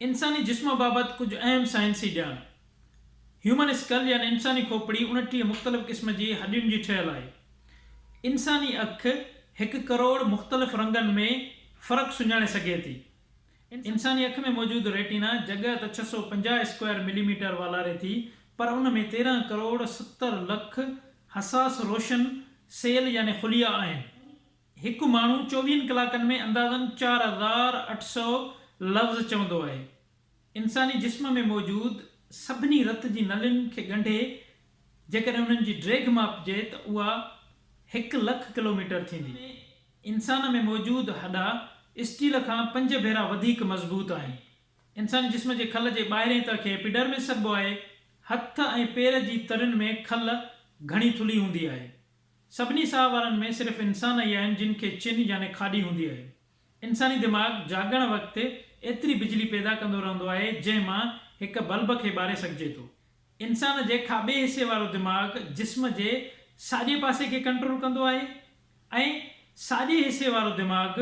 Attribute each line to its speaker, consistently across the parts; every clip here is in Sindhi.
Speaker 1: انساني جسم بابت ڪجهه اهم سائنسي ڄاڻ هيومن اسڪل يعني انساني کوپڙي اڻٽيهه مختلف قسم جي هڏين جي ٺهيل آهي. انساني اک هڪ ڪروڙ مختلف رنگن ۾ فرق سڃاڻي سگهي ٿي. انساني اک ۾ موجود ريٽينا جڳهه ته ڇهه سؤ پنجاهه اسڪوائر ملي ميٽر والاري ٿي پر ان ۾ تيرهن ڪروڙ ستر لک حساس روشن سيل يعني خليا آهن. هڪ ماڻهو چوويهن ڪلاڪن ۾ اندازن چار هزار اٺ سؤ لفظ چوندو آهي. انساني جسم ۾ موجود سڀني رت جي نلين کي ڳنڍي جيڪڏهن انهن جي ڊيگهه ماپجي ته اها هڪ لک ڪلوميٽر ٿيندي. انسان ۾ موجود هڏا اسٽيل کان پنج ڀيرا وڌيڪ مضبوط آهن. انساني جسم جي کل جي ٻاهرئين تهه کي ايپيڊرمس سڏبو آهي. هٿ ۽ پير جي ترين ۾ کل گهڻي ٿلهي هوندي آهي. سڀني ساهه وارن ۾ صرف انسان ئي آهن جن کي چن يعني کاڏي هوندي آهي. انساني دماغ جاڳڻ وقت ايتري بجلي پيدا ڪندو رهندو آهي جنهن مان هڪ بلب کي ٻاري سگهجي ٿو. انسان جي کاٻي حصي وارو دماغ جسم جي ساڄي پاسي کي ڪنٽرول ڪندو آهي ۽ ساڄي حصي وارو دماغ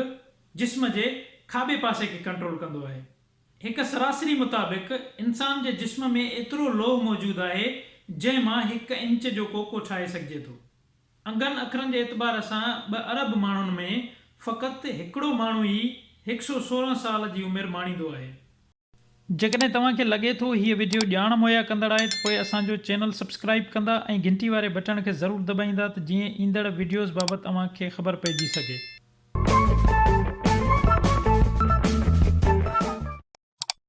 Speaker 1: جسم جي کاٻي پاسي کي ڪنٽرول ڪندو آهي. هڪ سراسري مطابق انسان جي جسم ۾ ايترو لوهه موجود آهي جنهن مان هڪ انچ جو ڪوڪو ٺاهي سگهجي ٿو. انگن اکرن جي اعتبار سان ٻه ارب ماڻهن ۾ فقط هڪڙو ماڻهو ئي هڪ سو سورهن سال جي عمر ماڻيندو آهي. جيڪڏهن توهان کي لڳي ٿو هيء وڊيو ڄاڻ مهيا ڪندڙ آهي ته پوء اسان جو چينل سبسڪرائيب ڪندا ۽ گهنٽي واري بٽڻ کي ضرور دٻائيندا ته جيئن ايندڙ وڊيوز بابت اوهان کي خبر پئجي سگهي.